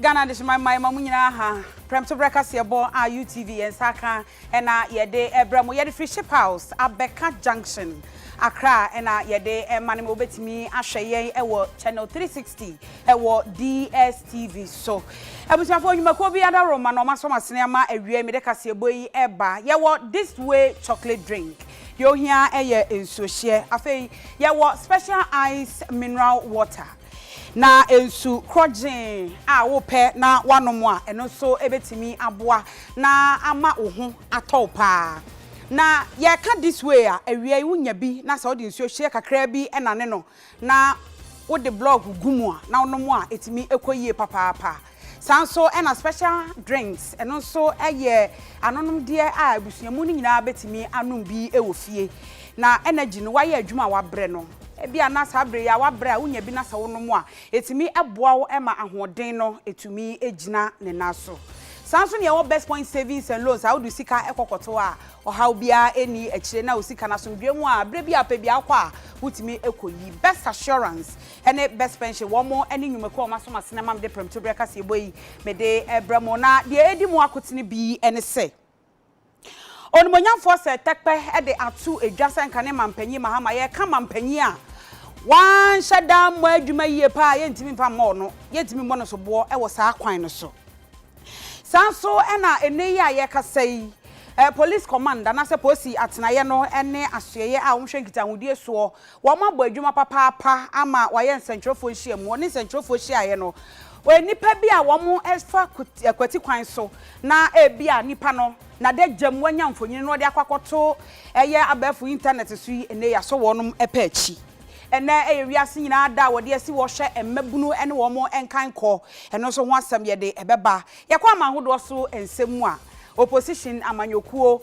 Ghana adehyema mmayewa mu nyinaa ha prɛmtoberɛ kaseɛbɔ a UTV yɛn nsa aka Ɛna yɛde ɛbrɛ mo. Yɛde firi ship house abɛka junction Accra ɛna yɛde ɛma no ma wobɛtumi ahwɛ yɛn ɛwɔ channel 360 ɛwɔ DSTV so Abusuafoɔ nnwumakuo bi adaworoma na wɔasɔ mo asene ama awiei mede kaseɛbɔ yi ɛba Yɛwɔ this way chocolate drink deɛ ohia ɛyɛ nsuohyeɛ afei yɛwɔ special ice mineral water Na nsu korɔgyeen a worepɛ na woanom a, ɛno nso bɛtumi aboa na ama wo ho atɔ wo pa ara. Na yɛka this way a, awia yi wonya bi na sɛ wode nsuo hyeɛ kakraa bi nane no na wode blɔɔgo gu mu a na wonom a, ɛtumi kɔ yie papaapa. Saa nso na special drinks, ɛno nso yɛ anonomdeɛ a abusuamu no nyinaa bɛtumi anom bi wɔ fie. Na energy no, woayɛ adwuma a woabrɛ no, ebia na saa berɛ yi ara woabrɛ a wonya bi na sɛ wonom a, ɛtumi boa wo ma ahoɔden no tumi gyina ne nan so. Saa nso na yɛwɔ Best Point Savings and Loans a wode wo sika kɔ kɔtɔ a ɔhaw biara nni akyire na wo sika no asomdwoeɛ mu a berɛ bi a wopɛ biara wokɔ a wotumi kɔyi. Best Assurance, ne Best Pension wɔn ne nnwumakuo a wɔaso m'asene ama mede prɛmto berɛ kaseɛbɔ yi mede rebrɛ mo. Na deɛ ɛdi mu akotene bi ne sɛ, Onimuonyamfoɔ Sir Tekpɛ de ato dwa sɛ nka ne Mampanyin Mahama, yɛreka Mampanyin a wanhyɛ da ammɔ adwuma yie paa a yɛntumi mfa mmɔɔ no, yɛntumi mmɔ no soboɔ wɔ saa kwan no so. Saa nso na ɛnnɛ yi a yɛrekasa yi, Police Command anaasɛ Posi Atenaeɛ no ne Asoɛeɛ a wɔhwɛ Nkitahodie soɔ Wɔabɔ adwuma papaapa ama wɔayɛ nsɛnkyerɛwfoɔ nhyiamu. Wɔne nsɛnkyerɛwfoɔ hyiaeɛ no, wɔyɛ nnipa bi a wɔfa kwati kwan so na ebia nnipa no n'adagyam wanya mfonini na ɔde akɔ akɔto ɛyɛ abɛɛfo intanɛt so yi, ɛnnɛ yi asɔ wɔn pɛ akyi. Ɛnnɛ yɛ wiase nyinaa da a wɔde asi hɔ hwɛ mmabunu ne wɔn nkankɔ. Ɛno nso ho asɛm yɛde bɛba yɛn kwan ma ahodoɔ so nsɛm mu a. Opposition, amanyɔkuo,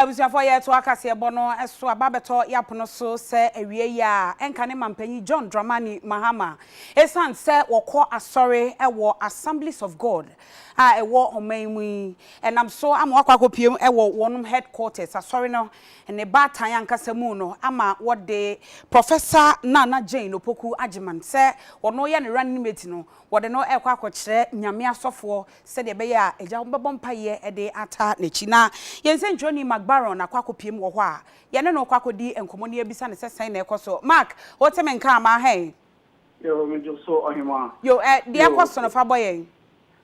Abusuafoɔ yɛretoa kaseɛbɔ no so aba abɛtɔ yɛn apono so sɛ awieeɛ a ɛnka ne Mampanyin John Dramani Mahama. Ɛsiane sɛ wɔkɔ asɔre wɔ Assemblies of God a ɛwɔ ɔman yi mu yi, ɛnam so ama wɔakɔ akɔpiem wɔ wɔnom headquarters, asɔre no ne baatan ankasa mu no ama wɔde Professor Nana Jane Opoku Agyeman sɛ ɔno yɛ ne running mate no, wɔde no rekɔ akɔkyerɛ Nyame asɔfoɔ sɛdeɛ ɛbɛyɛ a Agya no bɛbɔ mpaeɛ de ata n'akyi. Na yɛn nsɛntwerɛni Mark Barron akɔ akɔpiem wɔ hɔ a yɛne no rekɔ akɔdi nkɔmmɔ na yɛabisa no sɛ sɛn na ɛrekɔ so. Mark, wote me nka anaa hɛn? Yo, megye so, Ɔhemaa. Yo, ɛ, deɛ ɛrekɔ so no, fa bɔ yɛn.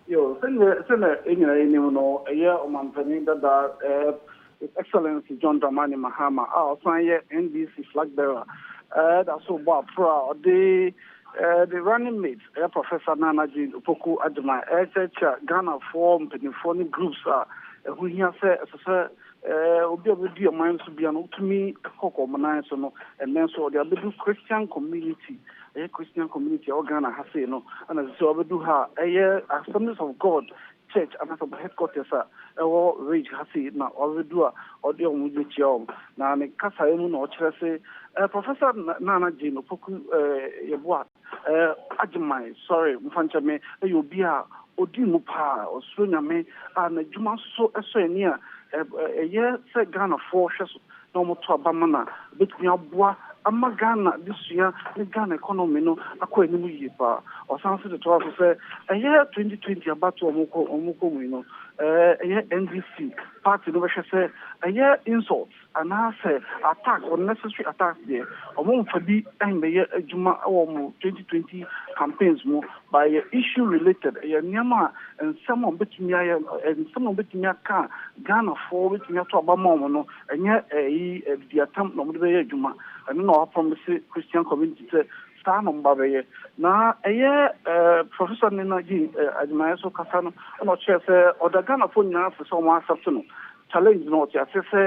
Yo, sɛdeɛ, sɛdeɛ yɛn nyinaa nim no, ɛyɛ Ɔmampanin dada, ɛ, His Excellency John Dramani Mahama a ɔsan yɛ NDC flag bearer da so rebɔ aporɔ a ɔde ne running mate ɛyɛ Professor Nana Jane Opoku Agyemang rekyerɛkyerɛ Ghanafoɔ mpanimfoɔ ne groups a ɛho hia sɛ ɛsɛ sɛ obi a ɔbɛdi ɔman no so bia no wotumi kɔ kɔ wɔn nan so no ɛnnɛ nso ɔde abɛdu Christian community ɛyɛ Christian community a ɛwɔ Ghana ha sei no ɛna ɛsɛ sɛ ɔbɛdu ha a ɛyɛ Assemblies of God church anaasɛ wɔn headquarters a ɛwɔ Ridge ha sei na ɔrebedu a ɔde wɔn bekyia wɔn. Na ne kasae mu na ɔkyerɛ se, Eh, Professor Nana Jane Opoku, eh, Yeboah, eh, Agyemang, sɔre, mfa nkyɛ me, yɛ obi a odi mu paa, ɔsuro Nyame a n'adwuma so sɔ ani a, eh, eh, ɛyɛ sɛ Ghanafoɔ hwɛ so na wɔto aba ma no a, ɛbɛtumi aboa ama Ghana adesua ne Ghana economy no akɔ anim yie pa ara. Ɔsan nso de toaa so sɛ, ɛyɛ 2020 abatoɔ a wɔrekɔ wɔrekɔ mu yi no, ɛyɛ NDC party no bɛhwɛ sɛ ɛyɛ insult anaa sɛ attack, unnecessary attacks deɛ, wɔmfa bi mmɛyɛ adwuma wɔ wɔn 2020 campaigns mu, but ɛyɛ issue related, ɛyɛ nneɛma a nsɛm a wɔbɛtumi ayɛ, nsɛm a wɔbɛtumi aka a Ghanafoɔ bɛtumi ato aba ama wɔn no. Ɛnyɛ ɛyi adidiatam na wɔde bɛyɛ adwuma. Ɛno na wɔaprɔmise Christian community sɛ saa na wɔba abɛyɛ. Na ɛyɛ Professor Nena Jean Agyinaeɛ so kasa no na ɔkyerɛɛ sɛ ɔda Ghanafoɔ nyinaa ase sɛ wɔn a accept no challenge no. Ɔte aseɛ sɛ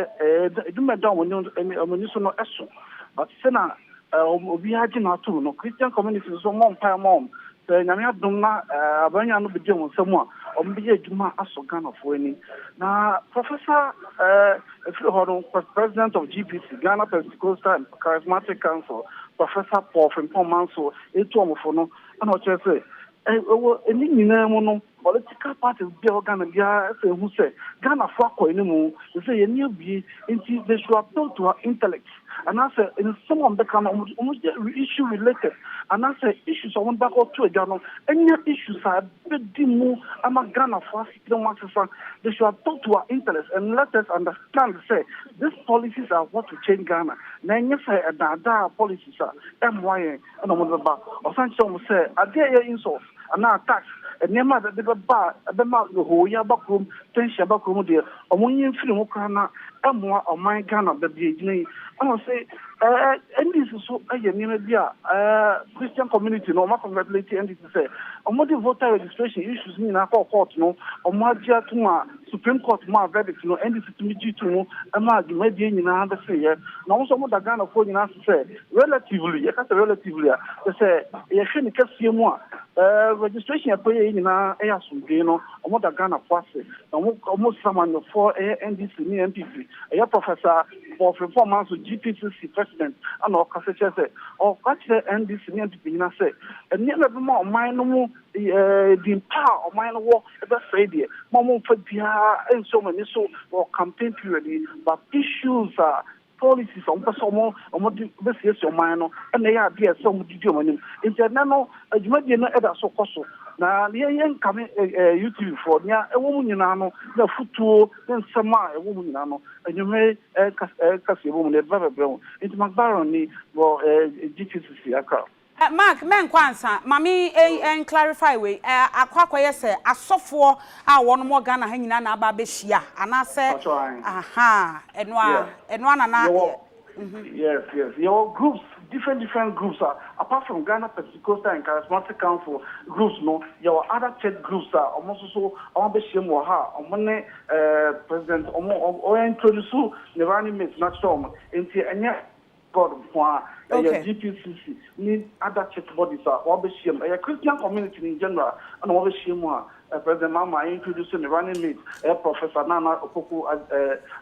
adwuma a ɛda wɔn ani so no so but sɛnea Ɛ wɔn obiara gye no atom no Christian community no nso mmɔ mpaeɛ mma wɔn sɛ Nyame adom na ɛ aban nwan no bɛdi wɔn nsa mu a wɔn bɛyɛ adwuma asɔ Ghanafoɔ ani na Professor ɛ ɛfiri hɔ no Pres President of GPC Ghana Pentecostal Charismatic Council Professor Paul Frimpong Mansour ɛretu wɔn fo no ɛna ɔkyerɛ sɛ Ɛ wɔ ɛne nyinaa mu no, political parties biara wɔ Ghana biara ɛsɛ ɛhu sɛ Ghanafoɔ akɔ animu, ɛsɛ sɛ yɛn ani abue, nti they should appeal to our intellect, anaasɛ nsɛm a wɔbɛka no wɔn wɔn yɛ issue related, anaasɛ issues a wɔde bɛkɔto adwa no ɛnyɛ issues a ɛbɛdi mu ama Ghanafoɔ asetena mu asesa, they should appeal to our intellect and let us understand sɛ these policies are what will change Ghana, na ɛnyɛ sɛ ɛdaadaa policies a ɛmmoa yɛn. na wɔde bɛba. Ɔsan kyerɛɛ wɔn sɛ, ade a ɛyɛ insult anaa tax, nneɛma a ɛde bɛba a ɛbɛma nhooyɛ aba kurom, tension aba kurom deɛ, wɔnyi mfiri ho koraa na ɛmmoa ɔman Ghana baabi a ɛgyina yi. Ɛna ɔse NDC nso yɛ nneɛma bi a Christian community no, wɔn a congratulate NDC. sɛ wɔde voter registration issues no nyinaa kɔɔ court no, wɔagye atom a Supreme Court maa verdict no, NDC tumi gyee to mu maa dwumadie nyinaa beseeɛ. Na wɔn nso wɔda Ghanafoɔ nyinaa ase sɛ relatively, yɛka sɛ relatively a, kyerɛ sɛ yɛhwɛ ne kɛseɛ mu a, eh, registration a ɛkɔyɛɛ yi nyinaa yɛ asomdwee no, wɔda Ghanafoɔ ase. Na wɔn, wɔsrɛ amanyɔfoɔ, ɛyɛ NDC ne NPP, Ɛyɛ Professor Paul Frimpong Manso GPCC President na ɔkasa kyerɛ sɛ ɔka kyerɛɛ NDC ne NPP nyinaa sɛ nneɛma a ɛbɛma ɔman no mu din pa a ɔman no wɔ bɛsɛe deɛ ma wɔmfa biara nsi wɔn ani so wɔ campaign period yi but issues a policies a wɔpɛ sɛ wɔde bɛsiesie ɔman no na ɛyɛ adeɛ a ɛsɛ sɛ wɔde di wɔn anim nti ɛnɛ no adwumadie no ɛda so kɔ so na yɛn yɛnkame UTV foɔ nea ɛwɔ mu nyinaa no na futuo ne nsɛm a ɛwɔ mu nyinaa no, nnwuma yi ɛka ɛka si ɛwɔ mu no, ɛba bɛbrɛ ho. Nti Macbarron ni wɔ ɛɛ GTCC Accra. Eh Mark mɛnkɔ ansa ma me ei en clarify wei eh akɔ akɔyɛ sɛ asɔfoɔ a wɔnom wɔ Ghana ha nyinaa na aba abɛhyia anaasɛ Mpakyɛw ae ahaa ɛno ara Yeah ɛno ara na na yɛwɔ Yes yes yɛwɔ groups different different groups a apart from Ghana Pentecostal and Charismatic Council groups no yɛwɔ other church groups a wɔn nso so wɔn abɛhyia mu wɔ ha a wɔn ne ɛɛ president wɔn wɔn introduce ne running mate na kyerɛ wɔn nti ɛnyɛ God nko ara ɛyɛ GPCC ne other church bodies a wɔn abɛhyia mu ɛyɛ Christian community in general ɛna wɔn abɛhyia mu a. Ɛpɛ dɛ ma ma introduce me running mate ɛyɛ Professor Nana Opoku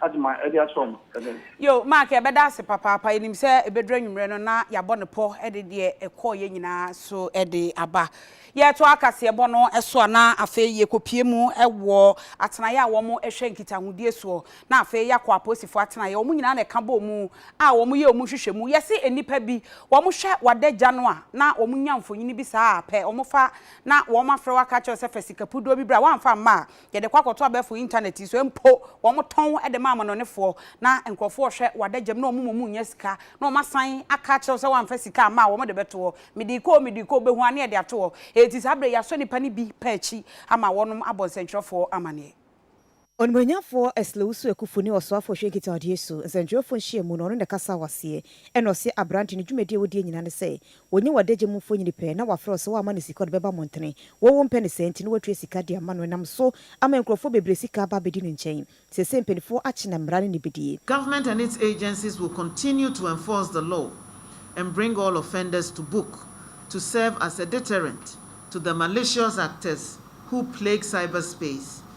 Agyman ɛde akyerɛ wɔn ɛnɛ. Yoo Mark yɛbɛda ase papaapa yɛnim sɛ ɛbɛduru anwummerɛ no na yɛabɔ no pɔ de deɛ ɛkɔeɛ nyinaa nso de aba. Yɛretoa kaseɛbɔ no so a na afei yɛkɔpue mu wɔ atenaeɛ a wɔhwɛ nkitahodie soɔ na afei yɛakɔ apolisifoɔ atenaeɛ wɔn nyinaa na ɛka bɔɔ mu a wɔyɛ wɔn nhwehwɛmu yɛse nnipa bi wɔhwɛ w'adagya no a na wɔnya mfonini bi saa a pɛ wɔfa na wɔafrɛ wo aka akyerɛ wo sɛ fa sika puduo bi bra, woamfa amma a, yɛde kɔ akɔto abɛɛfo intanɛt yi so, mpo wɔtɔn wo de ma amanɔnefoɔ, na nkurɔfoɔ rehwɛ w'adagyam na wɔn mmom nnya sika, na wɔasan aka akyerɛ wo sɛ woamfa sika amma a, wɔde bɛto hɔ. Mede kɔ o, mede kɔ o, bɛhu ara na yɛde ato hɔ. Enti saa berɛ yi, yɛasɔ nnipa no bi pa akyi ama wɔnom abɔ nsɛntwerɛfoɔ amanneɛ. Onimuonyamfoɔ Slewsu Akufu ne Ɔsoafoɔ Hwɛ Nkita Ɔdeɛ Su nsɛntwerɛfoɔ nhyiamu no ɔno na ɛkasaa wɔ aseɛ ɛna ɔse aberante no dwumadie a wɔdie nyinaa ne sɛ wɔnya w'adagya mu mfonyini pɛ na wafrɛ wo sɛ woamma no sika ɔde bɛba mmɔntene wɔ wompɛ no saa nti no watua sika de ama no ɛnam so ama nkurɔfoɔ bebree sika aba abɛdi no nkyɛn seesei mpaninfoɔ akye na mmara no ni bɛdie. Government and its agencies will continue to enforce the law and bring all offenders to book to serve as a deterrent to the malicious actors who plague cyberspace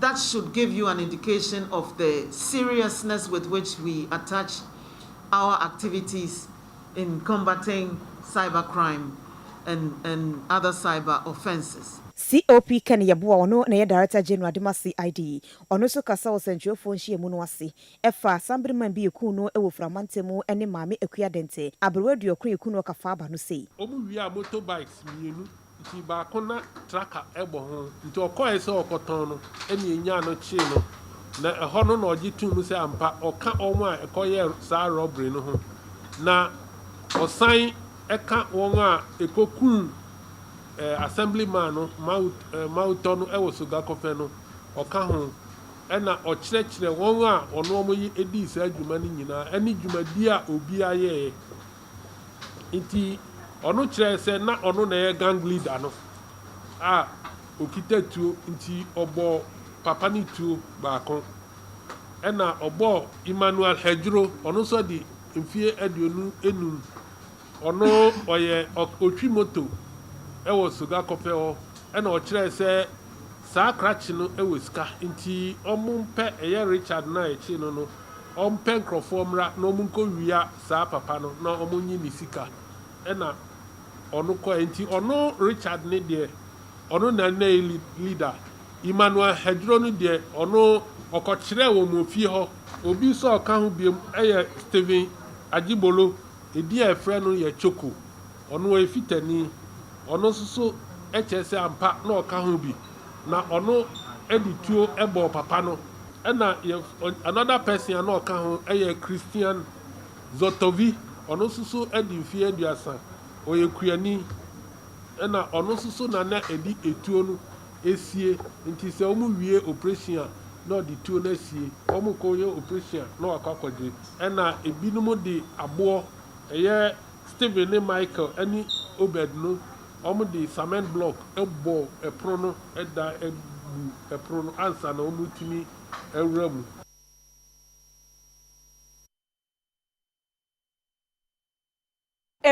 That should give you an indication of the seriousness with which we attach our activities in combating cyber crime and and other cyber offences. COP Ken Yeboah, ɔno na ɛyɛ Director General de ma CID. Ɔno nso kasa wɔ sɛnkyerɛwfoɔ nhyiamu no ase ɛfa Sambriman bi ɛkuu no wɔ Ofura mantamu ɛne Maame Akua Dɛntɛ, aberewa aduɔkron ɛkuu no ɔkafaa ba no sei. Wɔn wiaa motorbikes mmienu Nti baako na traka bɔ ho, nti ɔkɔɔe sɛ ɔrekɔtɔn no na enyaa no kyee no, na ɛhɔ no na ɔgye too mu sɛ ampa ɔka wɔn a ɛkɔyɛɛ saa rɔbere no ho, na ɔsan ka wɔn a ɛkɔkuu Assemblyman no Mautɔ no wɔ Sogakofɛ no, ɔka ho, ɛna ɔkyerɛkyerɛ wɔn a ɔne wɔn dii saa dwuma no nyinaa ne dwumadie a obiara yɛeɛ. Enti ɔno kyerɛɛ sɛ na ɔno na ɛyɛ gang leader no a ɔkita tuo nti ɔbɔɔ papa no tuo baako. Ɛna ɔbɔɔ Emmanuel Hedzro ɔno nso adi mfeɛ aduonu enum ɔno ɔyɛ ɔtwi moto ɛwɔ Sogakɔpɛ hɔ ɛna ɔkyerɛɛ sɛ saa krakye no ɛwɔ sika nti ɔmo mpɛ ɛyɛ Richard no a ɛkyee no no Ɔmpɛ nkurɔfoɔ mmra na wɔn nkɔ wia saa papa no na wɔn nye ne sika ɛna ɔno kɔɛ nti ɔno Richard no deɛ ɔno na na yɛ leader Emmanuel Hadjuro no deɛ ɔno ɔkɔ kyerɛɛ wɔn wɔn fie hɔ. Obi nso a ɔka ho biom ɛyɛ Stephen Ajibolo edin a yɛfrɛ no yɛ Choco ɔno ɔyɛ Fitani ɔno nso so ɛkyerɛ sɛ ampa na ɔka ho bi na ɔno de tuo bɔɔ papa no ɛna yɛf another person a na ɔka ho yɛ Christian Zotovy ɔno nso so adi mfeɛ aduasa ɔyɛ kuani ɛna ɔno nso so na na ɛde etuo no esie nti sɛ wɔn wie operation a na ɔde tuo no asie wɔn kɔ yɛ operation a na wakɔ akɔgye ɛna ebinom de aboɔ ɛyɛ Steven ne Michael ne Obed no, wɔde samɛn blɔk bɔɔ ɛpono no dan buu ɛpono no ansa na wɔretumi awura mu.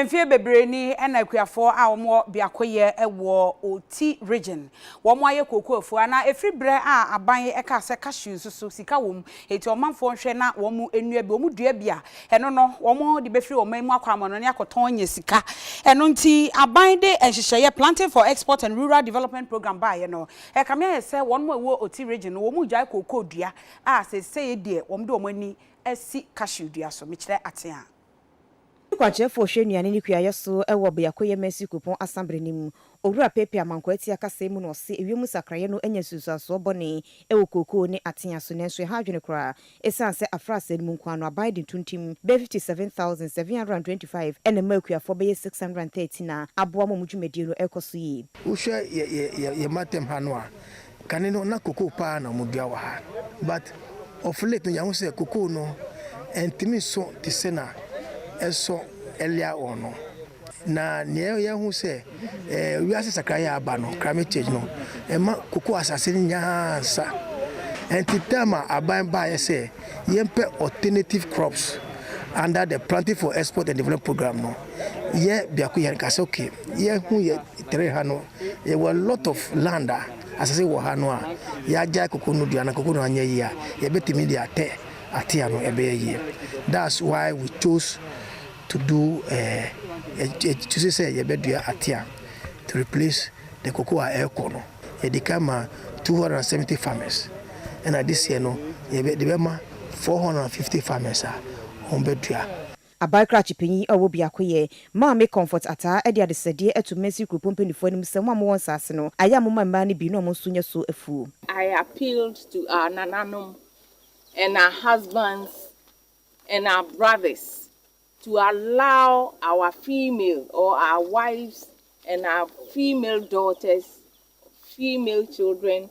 Mfeɛ bebree ni na akuafoɔ a wɔwɔ biakoyɛ wɔ Oti Region, wɔayɛ kooko afua, na ɛfiri berɛ a aban kaa sɛ cashew nso so sika wɔ mu Enti ɔmanfoɔ nhwɛ na wɔn nnua bi, wɔn dua bi a ɛno no wɔde bɛfiri wɔn man mu akɔ amannɔne akɔtɔn anya sika. Ɛno nti aban de nhyehyɛeɛ, Planting for Export and Rural Development Programme baeɛ no, ɛkame ayɛ sɛ wɔn a ɛwɔ Oti Region no, wɔregyae kookoo dua a seesei deɛ wɔde wɔn ani asi cashew dua so. Mekyerɛ ateaa. Yɛn kwankyerɛfoɔ hwɛ nnuane ne kuayɛ so wɔ Beakoyɛ Mercy Kuropɔn Asa Bere no mu. Owura Pepe Amankwah Atia kasaɛ mu no ɔse ewiem nsakraeɛ no anya nsunsuansoɔ bɔne wɔ kookoo ne atea so nanso ɛha adwene koraa esiane sɛ afraase no mu nkoa no aban de ntontim bɛyɛ 57,725 na ɛma akuafoɔ bɛyɛ 613 a aboa ma wɔn dwumadie no rekɔ so yie. Wohwɛ yɛ yɛ yɛ yɛ matam ha no a, Kane no na cocoa paa na ɔmo dua wɔ ha but of late no yɛn ho sɛ cocoa no ɛntumi nso te sɛ na ɛsɔ earlier on no na nea yɛn ho sɛ ɛɛ wiase sakraeɛ a aba no climate change no ɛma cocoa asase no nyinaa nsa ɛnti time a aban baayɛ sɛ yɛn pɛ alternative crops under the planting for export and development program no yɛ biako yɛn ka sɛ okay yɛn ho yɛ tere ha no. Yɛwɔ a lot of land a, asase wɔ ha no a yɛagyae koko no dua na koko no anyɛ yie a, yɛbɛtumi de atɛ atea no ɛbɛyɛ yie. That's why we chose to do yɛkyuse sɛ yɛbɛdua atea to replace the koko a ɛrekɔ no. Yɛde kan maa 270 farmers ɛna this year no yɛde bɛma 450 farmers a wɔbɛdua. Aban krakye panyin a ɔwɔ biakoyɛ, Maame Comfort Ataa de adesrɛdeɛ ato Mansiri Kuropɔn mpanyinfoɔ anim sɛ wɔn a wɔwɔ nsaase no, ayɛ a momma mmaa no bi na wɔn nso nyɛ so afuo. I appealed to our nananom and our husbands and our brothers to allow our female or our wives and our female daughters, female children,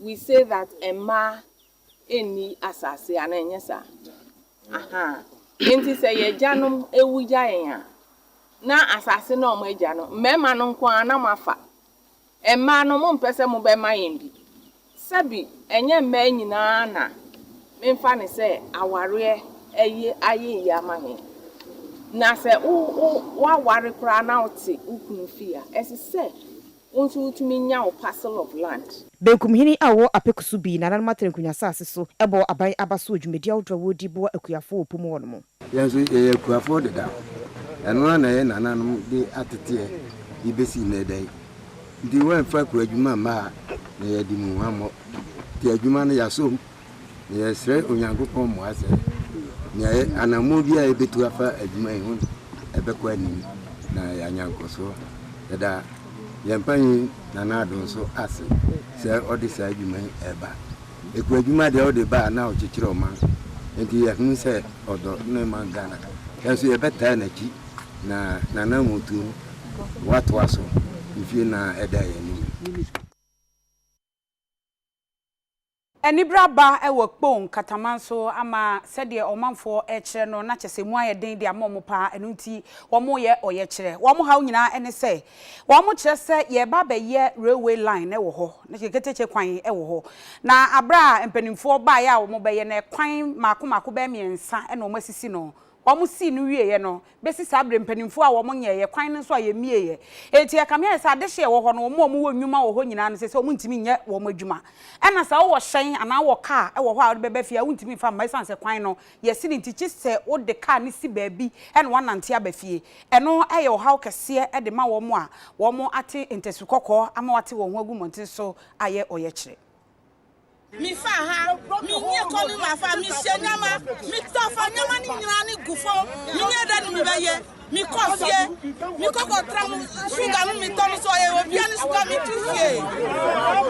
We say that mmaa nni asase anaa ɛnyɛ saa? Ahaa. Enti sɛ yɛn agyanom wu gya yɛn a, na asase no a wɔn agya no, mmarima no nko ara na wɔn afa. Mmaa no, mompɛ sɛ mobɛma yɛn bi? Sɛbi, ɛnyɛ mmaa nyinaa na memfa no sɛ awareɛ ayi ayɛ yie ama me. Na sɛ wo wo woaware koraa na wote wo kunu fie a, ɛsɛ sɛ Wo nso wotumi nya wo parcel of land. Benkumhene a ɔwɔ Apeku so bi nananom aterenkunya asase so bɔ aban aba so wɔ dwumadi ahodoɔ a wɔredi boa akuafoɔ wɔ po mu hɔ nom. Yɛn nso yɛyɛ akuafoɔ deda. Ɛno ara na yɛn nananom de ateteɛ de bɛsi nnɛ ɛda yi. Nti wɔamfa akuadwuma mma ha na yɛadi mu hwammɔ. Nti adwuma no yɛasɔ mu. Yɛresrɛ Onyankopɔn mmoa sɛ nea ɛyɛ anammɔn biara a yebetu afa adwuma yi ho no, ɛbɛkɔ anim na yɛanya nkɔso. Yɛda yɛn panyin Nana Addo nso ase sɛ ɔde saa adwuma yi reba. Ekuadwuma deɛ ɔde ba a na ɔkyekyere ɔman, enti yɛhunu sɛ ɔdɔ ne man Ghana. Yɛn nso yɛbɛtaa n'akyi na n'anammɔntuo no watoa so mfie nyinaa a ɛda yɛn anim yi. Anibere aba wɔ Kpong nkataman so ama sɛdeɛ ɔmanfoɔ rekyerɛ no na kyɛsɛ mu ayɛ den de ama wɔn paa ɛno nti wɔreyɛ ɔyɛkyerɛ. Wɔn haw nyinaa ne sɛ wɔkyerɛ sɛ yɛreba abɛyɛ railway line wɔ hɔ na kyerɛ ketekye kwan wɔ hɔ na aberɛ a mpaninfoɔ baeɛ a wɔbɛyɛ no kwan mmaako mmaako bɛyɛ mmiɛnsa na wɔasisi no wɔsii no wieeɛ no bɛsi saa berɛ mpanimfoɔ a wɔnyɛeɛ, kwan no nso a yɛmmieeɛ. Enti ɛkame ayɛ sɛ adehye a ɛwɔ hɔ no, wɔn a wɔwɔ nnwuma wɔ hɔ nyinaa no, ɛsɛ sɛ wɔntumi nyɛ wɔn adwuma. Ɛna sɛ wowɔ hyɛn anaa wowɔ kaa wɔ hɔ a wode bɛba fie a, wontumi mfa mma ɛsiane sɛ kwan no yɛ sini nti, gye sɛ wode kaa no si baabi na woanante aba fie. Ɛno yɛ ɔhaw kɛseɛ de ma wɔn a wɔate ntasu kɔkɔɔ ama wɔate wɔn ho agu mmɔnten so ayɛ ɔyɛkyerɛ. Me fa ha, me nyi kɔ me ma fa, me hyɛ nyama, me tɔ fa nyama ne nyina ne gu fo, me nyɛ dɛ ne me bɛ yɛ, me kɔ fie, me kɔ kɔ tra mo sugar no me tɔ no so ɔyɛ obia ne sugar me tu fie.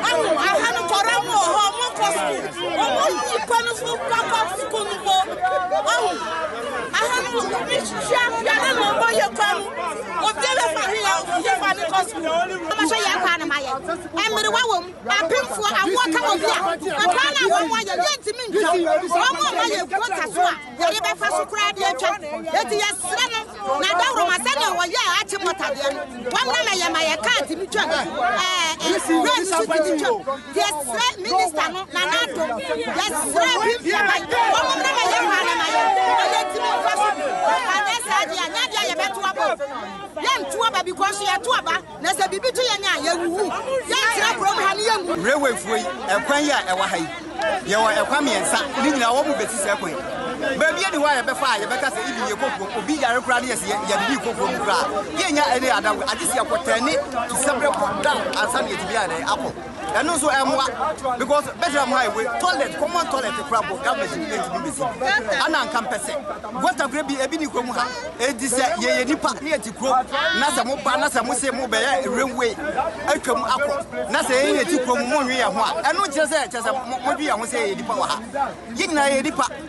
Ɔmo aha no kɔra mo wɔ hɔ, ɔmo kɔ sukuu, ɔmo nyi kɔ no fo pa kɔ sukuu no bo. Ɔmo aha no me hyia biara na ɔmo yɛ kɔ no, obia bɛ fa he yɛ, yɛ fa ne kɔ sukuu. Ɔmo hyɛ yɛ kɔ anama yɛ, ɛmere wa wɔ mu. Apemfoɔ, awoɔ ka wɔn bia. Ɛkwan no a wɔn wɔ, yɛdeɛ ntumi ntwa. Wɔn mo mma yɛ kuo ta so a, yɛde bɛfa so koraa de atwa. Enti yɛsrɛ no, na dawuroma sɛdeɛ wɔyɛ a akye mɔtadeɛ no, wɔn na mɛyɛ ma yɛ kaa tumi twam. Ɛɛ, nwura no so tumi twam. Yɛsrɛ minista no, Nana Addo, yɛsrɛ Bimfia ban, wɔn mo na mɛyɛ kwan no ma yɛ, na yɛntumi mfa so. Anyɛ saa deɛ a, nyɛ adeɛ a yɛbɛto aba o. Yɛnto aba because yɛto aba. Na sɛ biribi to yɛn a, yɛwuwu. Yɛntra kurom ha na yɛnwu. Railwayfoɔ yi, ɛkwan yi a ɛwɔ ha yi, yɛwɔ ɛkwan mmiɛnsa, ne nyinaa wɔn bɛsi saa kwan yi. Baabi ani hɔ a yɛbɛfa a yɛbɛka sɛ even yɛkɔ kurom, obi yare koraa ne yɛsɛ yɛ yɛde bi kɔ kurom koraa, yɛnnya any other way, agye sɛ yɛkɔ tɛne to Sɛbrɛ kɔ down ansa na yɛatumi ayɛ dɛn akɔ. ɛno nso ɛmmoa because bɛtena mu ha ewe toilet common toilet kura bɔ government ni ɛntumi bɛsi ɛna nka mpɛ sɛ gota kura bi ebi ni kura mu ha edi sɛ yɛyɛ nipa ne yɛte kurom na sɛ mo ba na sɛ mo se mo bɛyɛ railway atwa mu akɔ na sɛ yɛn yɛte kurom mo nwe yɛn ho a ɛno nkyerɛ sɛ kyerɛ sɛ mo dwe yɛn ho sɛ yɛyɛ nipa wɔ ha yɛn nyinaa yɛyɛ nipa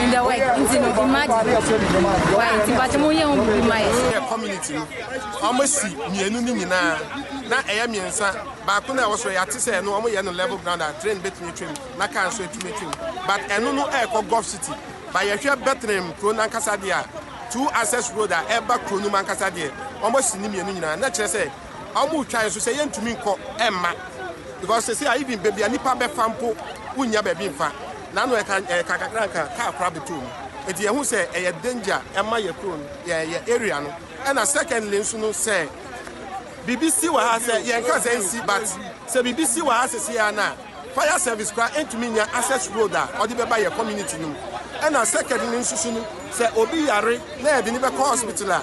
in the work nti no imagine why nti mpakyɛ mo yɛ ho biribi ma yɛ. yɛ community no wɔn si mmienu no nyinaa na ɛyɛ mmiɛnsa baako na ɛwɔ soro yɛate sɛ ɛno wɔn yɛ no level ground a train betumi atwam na car nso atumi atwam but ɛno no ɛrekɔ gulf city ba yɛhwɛ bɛtɛnɛm kuro nankasa deɛ a two access road a ɛreba kuro no mu ankasa deɛ wɔn si ne mmienu nyinaa na kyerɛ sɛ wɔn retwa yɛn so sɛ yɛntumi nkɔ ɛmma because sɛ sɛ even baabi a nipa bɛfa mpo wonnya baabi mfa. Naano ɛka ɛka kakra nka car kora bɛtɔ mu eti yɛ hu sɛ ɛyɛ danger ɛma yɛ kuro no yɛ yɛ area no ɛna secondly nso no sɛ bibi si wɔ ha sɛ yɛn ka sɛ nsi but sɛ bibi si wɔ ha sɛ si ya na fire service kora ntumi nya access road a ɔde bɛba yɛ community no mu ɛna secondly nso so no sɛ obi yare na yɛde ne bɛkɔ hospital a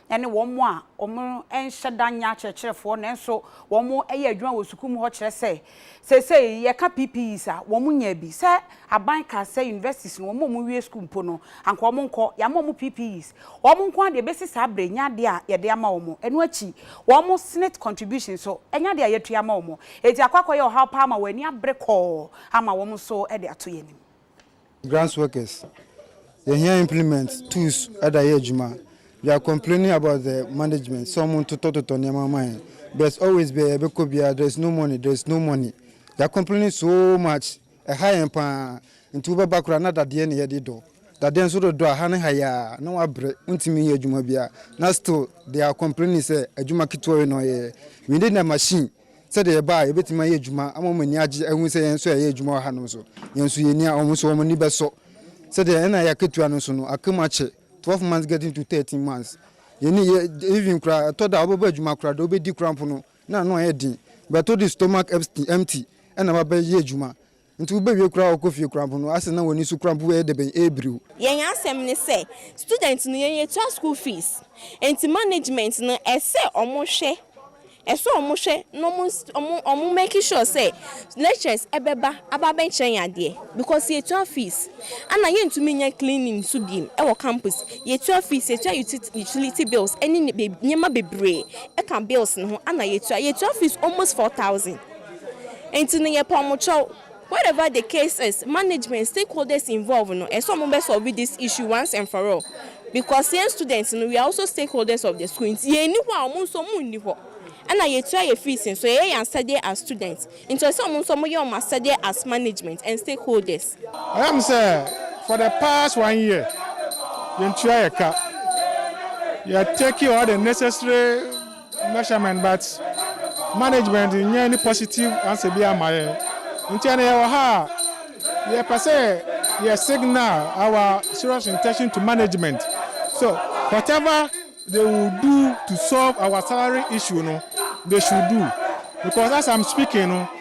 ne wɔn a wɔnhyɛ da nyɛ akyerɛkyerɛfoɔ nanso wɔyɛ adwuma wɔ sukuu mu hɔ kyerɛ sɛ, seesei yɛka PPEs a, wɔnyaa bi. Sɛ aban kaa sɛ universities no, wɔn a wɔwie sukuu mpo no, anka wɔnkɔ. Yɛama wɔn PPEs. Wɔn nko ara deɛ bɛsi saa berɛ yi nyɛ adeɛ a yɛde ama wɔn. Ɛno akyi, wɔn Senate contribution nso, ɛnyɛ adeɛ a yɛatua ama wɔn. Enti akɔ akɔyɛ ɔhaw pa ara ma wɔn ani abere kɔɔ ama wɔn nso de ato yɛn anim. Grants workers yɛhia implement tools ɛda yɛ adwuma we are complaining about the management sɛ ɔmo ntotɔtotɔ nneɛma ma yɛn but always bɛ yɛbɛkɔ biara there is no money there is no money we are complaining so much ɛha yɛn paa nti wobɛba koraa na dadeɛ ne yɛde dɔ dadeɛ nso dodɔ a ha ne ha yɛ a na wabrɛ wontumi nyɛ adwuma biara na still they are complaining sɛ adwuma ketewa yi na ɔyɛ we need a machine Sɛdeɛ ɛba a yɛbɛtumi ayɛ adwuma ama wɔn ani agye ahu sɛ yɛn nso yɛyɛ adwuma wɔ hanom nso, yɛn nso yɛni a, wɔn nso wɔn ani bɛsɔ. Sɛdeɛ ɛna yɛ akatua no nso no, aka mu akyɛ, twelve months getting to thirteen months. Yɛni yɛ even koraa, ɛtɔ da a wobɛba adwuma koraa, deɛ wobɛdi koraa mpo no, na ano ayɛ den. But wode stomach empty na wabɛyɛ adwuma. Nti wobewie koraa a wɔkɔ fie koraa mpo no ase na wɔn ani so koraa mpo yɛ dɛbɛn, ɛrebiriw. Yɛn asɛm ne sɛ student no yɛn yɛtua school fees nti management no ɛsɛ ɔmo hwɛ ɛsɛ ɔmo hwɛ na ɔmo ɔmo ɔmo make sure sɛ lecturers ɛbɛba aba abɛkyerɛ yɛn adeɛ because yɛtua fees ɛna yɛntumi nyɛ cleaning nso bi ɛwɔ campus yɛtua fees yɛtua utility bills ɛne nneɛma bebree ɛka bills no ho ɛna yɛtua yɛtua fees almost four thousand. Nti no yɛ pɛ ɔmo kyɛw. Whatever the case is, management, stakeholders involved no ɛsɛ ɔmo bɛ solve this issue once and for all because yɛn students no we are also stakeholders of the school nti yɛn nni hɔ a ɔmo nso ɔmo nni hɔ ɛna yɛ tua yɛ fees nso yɛyɛ yɛn asɛdeɛ as students nti ɛsɛ ɔmo nso ɔmo yɛ ɔmo asɛdeɛ as management and stakeholders. Ɛyam sɛ for the past one year yɛn tua yɛ ka yɛ take all the necessary. measurement but management nyɛ any positive answer bi ama yɛn nti ɛna yɛwɔ ha a yɛpɛ sɛ yɛ signal our serious intention to management so whatever they will do to solve our salary issue no they should do because as i'm speaking no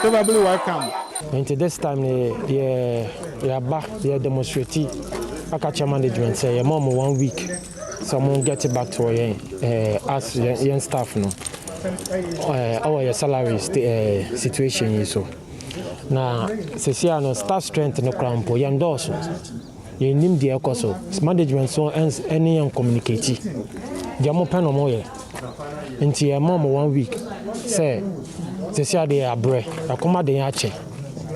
Probably welcome. Nti this time no yɛ yɛaba yɛ demonstrate aka kyɛ management sɛ yɛma ɔmo one week sɛ ɔmo get back to yɛn eh, as yɛn staff no eh, ɛwɔ yɛ salary eh, situation yi so na sesia no staff strength no koraa mpo yɛn dɔɔso Yɛnnim deɛ ɛkɔ so. Management nso ɛns ɛne yɛn communicate. Deɛ wɔn pɛ na wɔn yɛ. Nti yɛ ma wɔn one week sɛ sɛsi adeɛ yɛ abrɛ. Ɛkɔm ade yɛn akyɛ.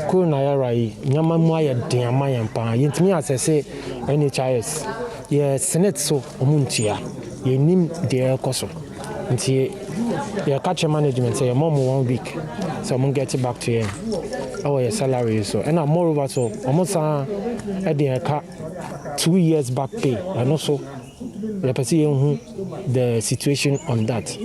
Kuro na yɛ ra yi nneɛma mu ayɛ den ama yɛn paa. Yɛntumi asɛse NHIS. Yɛ senate so wɔn ntua. Yɛnnim deɛ ɛkɔ so. Nti yɛ ka kyerɛ management sɛ yɛ ma ɔmo one week sɛ ɔmo get back to yɛn ɛwɔ yɛ salary yi so ɛna more over so ɔmo san ɛde yɛn ka two years back pay ɛno so yɛ pɛ sɛ yɛ hu the situation on that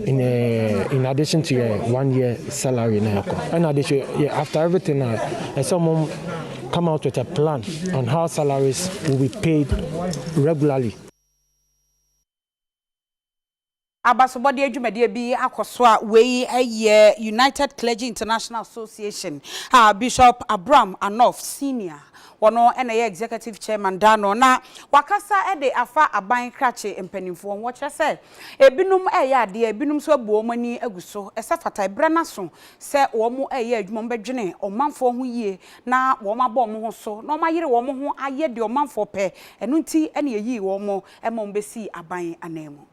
in, uh, in addition to yɛ one year salary na yɛ kɔ ɛna de so yɛ after everything na ɛsɛ ɔmo come out with a plan on how salaries will be paid regularly. Abasobɔdeɛ dwumadie bi akɔ so a wei yɛ United Clergy International Association a Bishop Abram Anoff Senior wɔn na ɛyɛ Executive Chairman da ano na wakasa de afa aban krakye mpanimfoɔ ho. Wɔkyerɛ sɛ ebinom reyɛ adeɛ, ebinom nso abu wɔn ani agu so. Ɛsɛ fata, ɛberɛ no aso sɛ wɔreyɛ adwuma, wɔbɛdwene ɔmanfoɔ ho yie na wɔabɔ wɔn ho so na wɔayere wɔn ho ayɛ deɛ ɔmanfoɔ pɛ. Ɛno nti na yɛyii wɔn. Ɛma wɔbɛsii aban ananmu.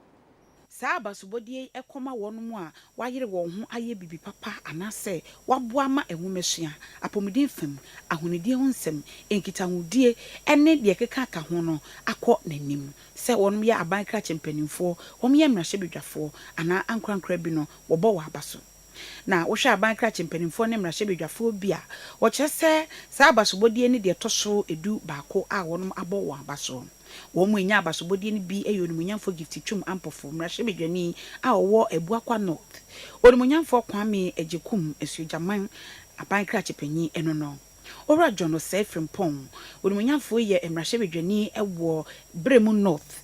Saa abasobɔdeɛ yi kɔma wɔn a wɔayere wɔn ho ayɛ biribi papa anaasɛ wɔaboa ma nwomasua, apɔmuden fam, ahonidie ho nsɛm, nkitahodie, ne deɛ ɛkeka ka ho no akɔ n'anim. Sɛ wɔyɛ aban krakye mpanimfoɔ, wɔyɛ mmarahyɛbadwafoɔ, anaa ankorankora bi no, wɔbɔ wɔn aba so. Na wohwɛ aban krakye mpanimfoɔ ne mmarahyɛbadwafoɔ bi a, wɔkyerɛ sɛ saa abasobɔdeɛ no deɛ ɛtɔ so du baako a wɔnom abɔ wɔn aba so. Wɔn mu ɛnya abasobɔdeɛ no bi ɛyɛ Onimuonyamfoɔ Gift Twum Ampofo, mmarahyɛbadwani a ɔwɔ Abuakwa North, Onimuonyamfoɔ Kwame Agyekum, Asuogyaman aban krakye panyin ɛno no. Owura John Osei Frimpong, Onimuonyamfoɔ yɛ mmarahyɛbadwani wɔ Beremu North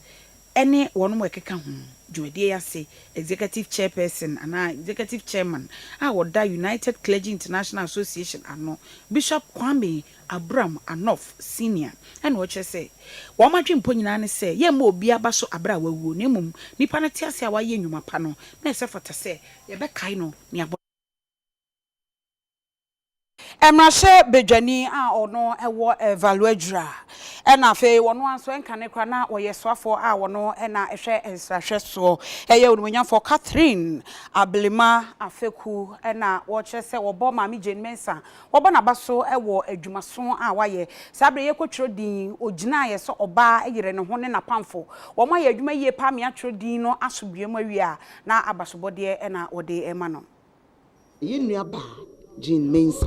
ɛne wɔnom a ɛkeka ho, dwumadie yi ase Executive Chairperson anaa Executive Chairman a ɔda United Clergy International Association ano, Bishop Kwame Abram Anoff Senior ɛna ɔkyerɛ sɛ wɔn adwempɔ nyinaa ne sɛ yɛmma obiara ba so abrɛ a wawuo na mmom nipa no te ase a wayɛ nnwuma pa no na ɛsɛ fata sɛ yɛbɛkae no nea Mmarahyɛbadwani a ɔno wɔ Valuadjira na afei ɔno ara nso ɛnkane koraa na ɔyɛ soafoɔ a ɔno na ɛhwɛ nsrahwɛ soɔ yɛ Onimuonyamfoɔ Catherine Ablema Afeku na wɔkyerɛ sɛ wɔbɔ Maame Jane Mensah wɔbɔ n'aba so wɔ adwumaso a wayɛ. Saa berɛ yi ɛkɔtwerɛ din ɔgyinaeɛ sɛ ɔbaa yere ne ho ne n'apamfo wɔn ayɛ adwuma yie paa mea twerɛ din no asomdwoeɛ mu awie a na abasobɔdeɛ na wɔde rema no. Yɛn nuabaa Jean Mensah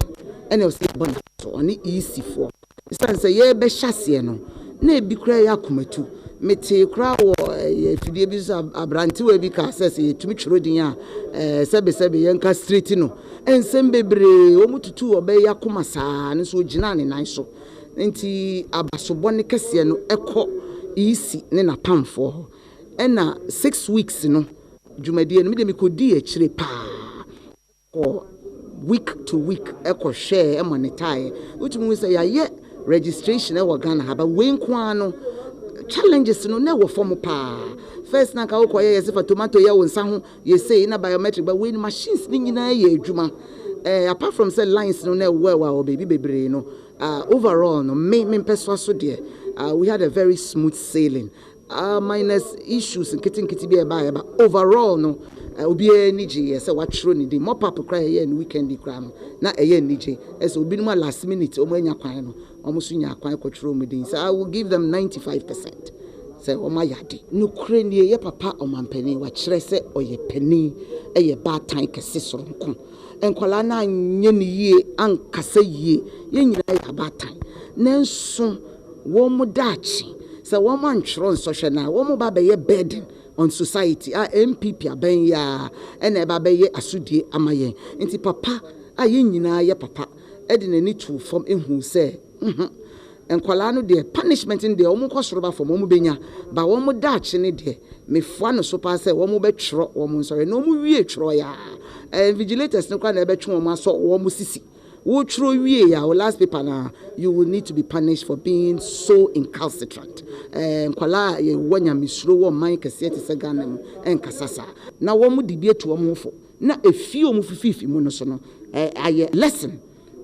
na ɔsɛ yɛbɔ n'aso. Ɔne EC foɔ. Ɛsiane sɛ yɛrebɛhyɛ aseɛ no, na ebi koraa yɛ akomatu. Metee koraa wɔ ɛyɛ afidie bi so sɛ aberantewa bi kaa sɛ sɛ yɛtumi twerɛ din a ɛɛ sɛbesɛbe yɛnka straight no. Nsɛm bebree wɔn tutuu ɔbaa yi akoma saa no nso ɔgyinaa ne nan so. Nti abasobɔ ne kɛseɛ no kɔ EC ne n'apamfoɔ hɔ. Ɛna six weeks no. Dwumadie no me deɛ me kɔ dii akyire paa kɔ week to week ɛkɔ hwɛɛ ɛmonitaaɛ wotumi hu sɛ yɛayɛ registration ɛwɔ Ghana ha ba wei nko ara no challenges no na ɛwɔ fam paa first na nka wokɔ yɛ yɛsɛ fa tomato yɛ wo nsa ho yɛsei na biometric ba wei no machines ne nyinaa yɛ adwuma ɛɛ eh, apart from sɛ lines no na ɛwɔ ɛwɔ wɔ baabi bebree no uh, overall no me mempɛ so aso deɛ uh, we had a very smooth sailing Ahh minus issues nketenkete bi a ɛbaeɛ ba overall no obiara ani gyeeɛ sɛ wɔatwerɛ ne din. Mop up koraa a yɛyɛɛ no weekend yi koraa no na ɛyɛ anigye. Ɛyɛ sɛ obinom a last minute wɔn anya kwan no wɔn nso nyaa kwan kɔtwerɛɛ wɔn din. So I will give them ninety five percent sɛ wɔn ayɛ ade. Nokorɛ nie yɛ papa ɔmanpanin wakyerɛ sɛ ɔyɛ panin ɛyɛ baatan kɛse soronko. Nkwadaa no anyɛ no yie ankasa yie. Yɛn nyinaa yɛ abaatan nanso wɔn daakye, sɛ wɔn antwerɛ nsɔhwɛ no a, wɔn ba bɛyɛ burden on society a NPP abɛn yi ara ɛna ɛba bɛyɛ asodie ama yɛn. Nti papa a yɛn nyinaa yɛ papa de n'ani too fam huu sɛ huhum, nkwadaa no deɛ punishment no deɛ wɔn nkɔ soro ba fam wɔn bɛnya, ba wɔn daakye no deɛ mefoa no so paa sɛ wɔn bɛtwerɛ wɔn nsɔhwɛ, na wɔn wie twerɛeɛ a, ɛɛ invigilators no koraa na ɛbɛtwe wɔn asɔ wɔn sisi. Wo twerɛ wie a wo last paper no a you will need to be punished for being so incalcitrant. Ɛɛ nkwadaa a yɛ wɔ nyamesuro wɔ man kɛseɛ te sɛ Ghana mu nkasa saa. Na wɔn de bi atu wɔn ho fo na ɛfie wɔn fififi mu no so no ayɛ lesson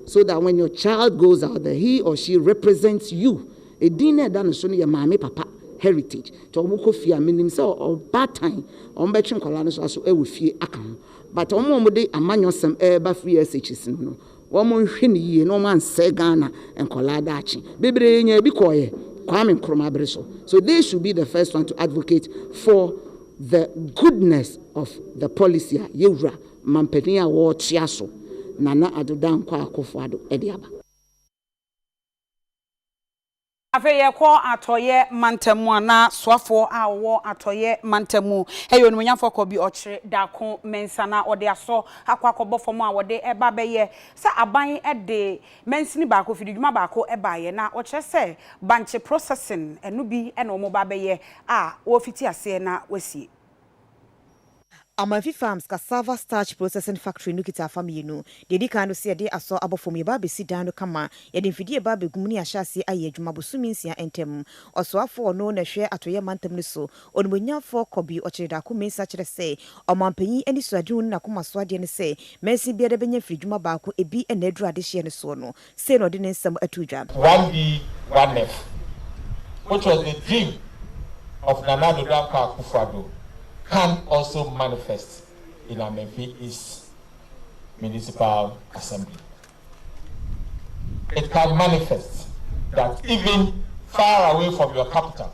so that when your child goes out there he or she represents you. Ɛdin no a ɛda no so no yɛ maame papa heritage. Nti wɔn kɔ fie a menim sɛ ɔbaatan wɔn bɛtwe nkwadaa no so aso ɛwɔ fie aka ho. But wɔn a wɔde amanyɔsɛm reba free SHS mu no, wɔn nhwɛ no yie na wɔn ansɛe Ghana nkɔlaa daakye. Bebree yɛ nyaa bi kɔɔyɛ Kwame Nkrumah bere so. So they should be the first one to advocate for the goodness of the policy a yɛwura mampanin a wɔrekyea so Nana Addo Dankwa Akufo-Addo de aba. Afei yɛkɔ Atɔeɛ mantam mu a, na soafoɔ a ɔwɔ Atɔeɛ mantam mu yɛ onimuonyamfoɔ Kɔbi Ɔkyere Darko Mensah. Na ɔde asɔ akɔ akɔbɔ fam a wɔde ba bɛyɛ sɛ aban de mansini baako, fididwuma baako baeɛ. Na wɔkyerɛ sɛ bankye processing, ɛno bi na wɔba abɛyɛ a wɔrefiti aseɛ na wɔasie. Amanfi Farms Cassava Starch Processing Factory no kita afa mmienu. Deɛ ɛdi kan no sɛ yɛde asɔ abɔ fam, yɛba abɛsi dan no kama, yɛde mfidie reba abɛgu mu ne yɛahyɛ aseɛ ayɛ adwuma bosome nsia ntam. Ɔsoafoɔ a ɔno na ɛhwɛ Atɔeɛ Mantam no so, Onimuonyamfoɔ Kobi Ɔkyere-Darko Mensah kyerɛ sɛ, Ɔmanpanin anisoadehu ne n'akomasoadeɛ ne sɛ, mansin biara bɛnya mfiridwuma baako, ebi na aduru adehyeɛ no soɔ no. Sei na ɔde ne nsɛm ato dwa. One be one nef which was the dream of Nana Ado Dankwa Akufo Addo can also manifest in Amenfi East Municipal Assembly. It can manifest that even far away from your capital,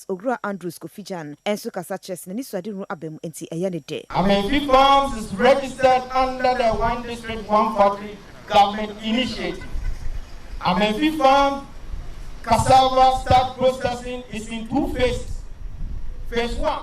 States, Owura Andrews Kofi Gyan, nso kasa kyerɛ sɛ n'ani so ade hunu aba mu, enti ɛyɛ ne dɛ. Amenfi Farms is registered under the One District, One Factory government initiative. Amenfi Farm cassava starch processing is in two phases. Phase one.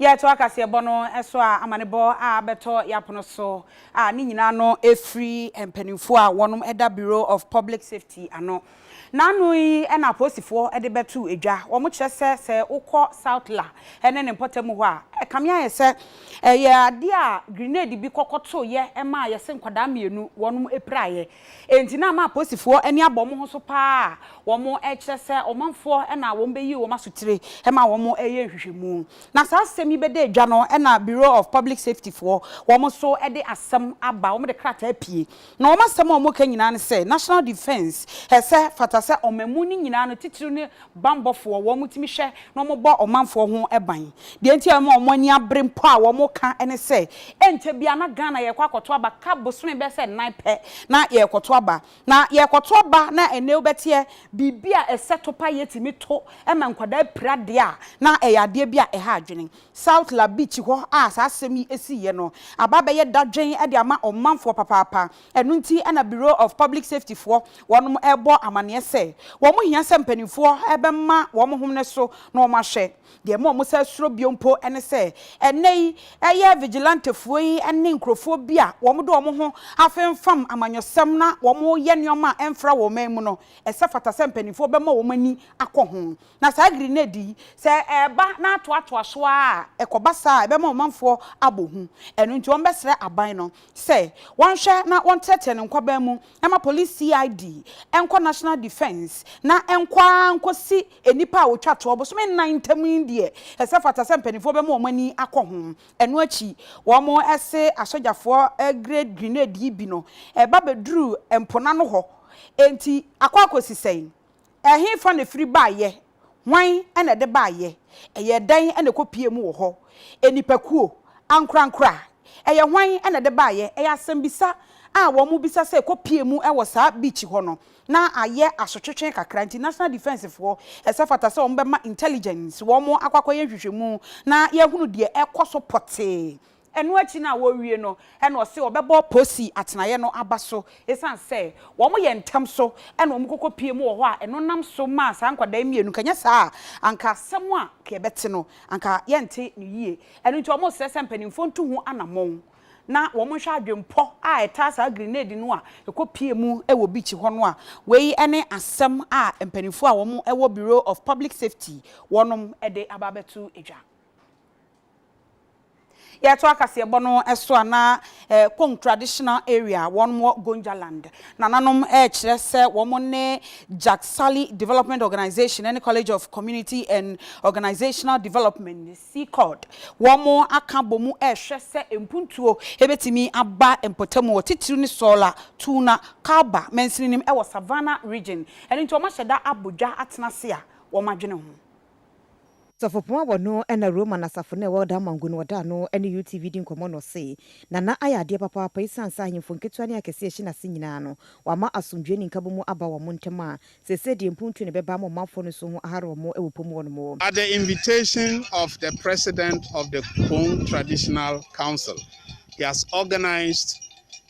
Yɛtoa kaseɛbɔ no so a, amanebɔ a abɛtɔ yɛn apono so a, ne nyinaa no firi mpanimfoɔ a wɔda Bureau of Public Safety ano. N'ano yi na apolisifoɔ de bɛto dwa. Wɔkyerɛ sɛ, sɛ wokɔ South La ne ne mpɔtam hɔ a, ɛkame ayɛ sɛ ɛyɛ adeɛ a grenade bi kɔkɔtoeɛ maa yɛse nkwadaa mmienu wɔpiraeɛ. Enti na ama aposifoɔ ani abɔ wɔn ho so pa ara a wɔkyerɛ sɛ ɔmanfoɔ na wɔbɛyii wɔn asotire ma wɔyɛɛ nhwehwɛmu. Na saa asɛm yi bɛda edwa no na Bureau of Public Safety foɔ wɔn nso de asɛm aba, wɔde krataa pie. Na wɔn asɛm a wɔka nyinaa ne sɛ National Defence sɛ fata sɛ ɔmamu no nyinaa no titiriw ne bammɔfoɔ, wɔtumi hwɛ na wɔbɔ ɔmanfoɔ ho ban. Deɛ nti a ɛma wɔn ani abere mpo a wɔka ne sɛ, ɛnkyɛ biara na Ghana yɛrekɔ akɔto aba, ka bosome bɛyɛ sɛ nnan pɛ na yɛrekɔto aba. Na yɛrekɔto aba na ɛnne wobɛteɛ, biribi a ɛsɛ to pa a yɛtumi to ma nkwadaa pira deɛ a, na ɛyɛ adeɛ bi a ɛha adwene. South La Beach hɔ a saa asɛm yi siiɛ no, aba abɛyɛ dadwen de ama ɔmanfoɔ papaapa. Ɛno nti na Bureau of Public Safety foɔ wɔnom rebɔ amaneɛ sɛ wɔn hia sɛ mpaninfoɔ bɛma wɔn hom no so na wɔn ahwɛ. Deɛ ɛma wɔn san suro bio mpo ne sɛ ɛnnɛ yi ɛyɛ vigilantefoɔ yi ne nkurofoɔ bi a wɔn de wɔn ho afemfam amanyɔsɛm na wɔn reyɛ nneɛma a ɛmfra wɔn man mu no ɛsɛ fata sɛ mpaninfoɔ bɛma wɔn ani akɔ ho. Na saa grenade yi sɛ ɛreba na atoatoa so ara a ɛkɔba saa a ɛbɛma ɔmanfoɔ abɔ hu. Ɛno nti wɔn bɛsrɛ aban no sɛ wɔnhwɛ na wɔntrɛtrɛ no nkwaban mu ma Police CID nkɔ National Defence na nkɔ ara nkɔsi nnipa a wɔtwa toɔ bosome nnan ntam yi deɛ ɛsɛ fata sɛ mpanimfoɔ bɛma wɔn ani akɔ ho. Ɛno akyi wɔse asogyafoɔ grade grenade yi bi no ɛba bɛduruu mponano hɔ enti akɔ akɔsi sɛn? Ɛhefa na ɛfiri baeɛ? Hwan na ɛde baeɛ? Ɛyɛɛ dɛn na ɛkɔpuee mu wɔ hɔ? Nnipakuo? Ankorankora? Ɛyɛ hwan na ɛde baeɛ? Ɛyɛ asɛmmisa a wɔbisa sɛ ɛkɔpuee mu wɔ saa beach hɔ no. Na ayɛ asotwetwe kakra nti National Defence foɔ, ɛsɛ fata sɛ wɔbɛma Intelligence wɔn akɔ akɔyɛ nhwehwɛmu na yɛahunu deɛ ɛrekɔ so pɔtee Ɛno akyi no a wɔrewie no, ɛnna ɔse wɔbɛbɔ Posi atenaeɛ no aba so. Ɛsiane sɛ wɔyɛ ntɛm so na wɔkɔkɔpie mu wɔ hɔ a, ɛno nam so maa saa nkwadaa yi mmienu, nka ɛnyɛ saa a, anka asɛm a nka yɛbɛte no, anka yɛnte no yie. Ɛno nti, wɔresrɛ sɛ mpanimfoɔ ntu ho anammɔn na wɔnhwɛ adwempɔ a ɛtaa saa grenade no a ɛkɔpie mu wɔ beach hɔ no a. Wei ne asɛm a mpanimfoɔ a wɔwɔ Bureau of Public Safety wɔnom de aba abɛto dwa. Yɛto akaseɛbɔ no so a, na Kong Traditional Area, wɔn wɔ Gonjaland, nananom rekyerɛ sɛ wɔn ne Jagsali Development Organisation ne College of Community and Organisational Development, CCORD, wɔn aka bɔ mu rehwɛ sɛ mpuntuo bɛtumi aba mpɔtam wɔ titiriw ne Sola, Tuna, Kalba mansini no mu wɔ Savannah Region. Ɛno nti wɔahyɛ da abɔ dwa atena ase a wɔadwene ho. Sɔfopɔn a wɔno na Roman asafo no a ɛwɔ Damango no wɔdaa no ne UTV di nkɔmmɔ na ɔse, Nana ayɛ adeɛ papaapa esiane sɛ ahemfo nketewa ne akɛseɛ ɛhye n'ase nyinaa no, wama asomdwoeɛ ne nkabom mu aba wɔn ntam a seesei deɛ mpuntuo na ɛbɛba ama ɔmanfoɔ no nso ho ahare wɔn wɔ pɔ mu hɔ nom. At the invitation of the President of the Kupong Traditional Council, he has organized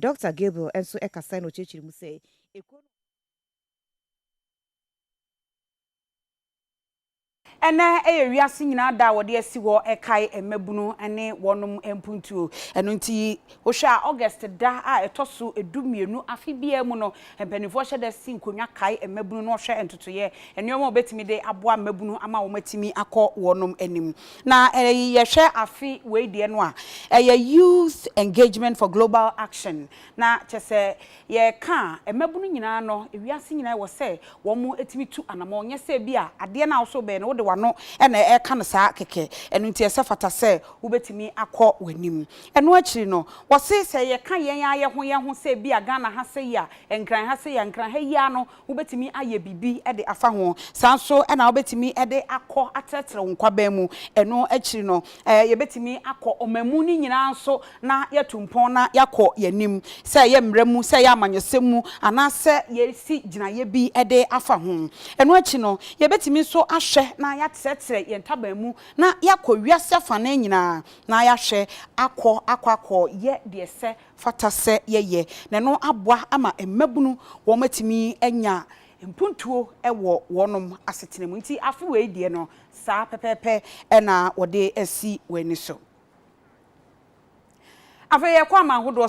Dɔkta Gabriel nso kasae na ɔkyerɛkyerɛɛ mu sɛ, Ekuo no a. Ɛnnɛ yɛ wiase nyinaa da a wɔde asi hɔ rekae mmabunu ne wɔnom mpuntuo. Ɛno nti, wohwɛ a August da a ɛtɔ so du mmienu afe biara mu no, Mpanimfoɔ hyɛ da si nkonnwa kae mmabunu na wɔhwɛ ntotoeɛ, nneɛma a wɔbɛtumi de aboa mmabunu ama wɔatumi akɔ wɔn anim. Na yɛhwɛ afe wei deɛ no a, ɛyɛ Youth Engagement for Global Action. Na kyerɛ sɛ, yɛreka a, mmabunu nyinaa no, wiase nyinaa ɛwɔ sɛ wɔtumi tu anammɔn. Nyɛ sɛ ebia adeɛ no a wo nso wobɛyɛ no, wode w'ano na ɛreka no saa kɛkɛ. Ɛno nti, ɛsɛ fata sɛ wobɛtumi akɔ w'anim. Ɛno akyiri no, wɔse sɛ yɛka yɛn ara yɛn ho yɛn ho sɛ ebia Ghana ha sei a, Nkran ha sei a, Nkran ha yi ara no wobɛtumi ayɛ biribi de afa ho. Saa ara nso na wobɛtumi de akɔ atrɛtrɛ wo nkwaban mu. Ɛno akyiri no, yɛbɛtumi akɔ ɔmamu no nyinaa nso na yɛatu mpɔn na yɛakɔ yɛn anim, sɛ ɛyɛ mmara mu, sɛ ɛyɛ amanyɔsɛm mu, anaasɛ yɛasi gyinaeɛ bi de afa ho. Ɛno akyi no, yɛbɛtumi nso ahwɛ na yɛatrɛtrɛ yɛn ntaban mu na yɛakɔ wiase afanan nyinaa na yɛahwɛ akɔ akɔ akɔ yɛ deɛ sɛ fata sɛ yɛyɛ, na ɛno aboa ama mmabunu wɔn atumi anya mpuntuo wɔ wɔn asetena mu. Nti afe wei deɛ no saa pɛpɛɛpɛ na wɔde asi wɔn ani so. Afei yɛkɔ aman hodoɔ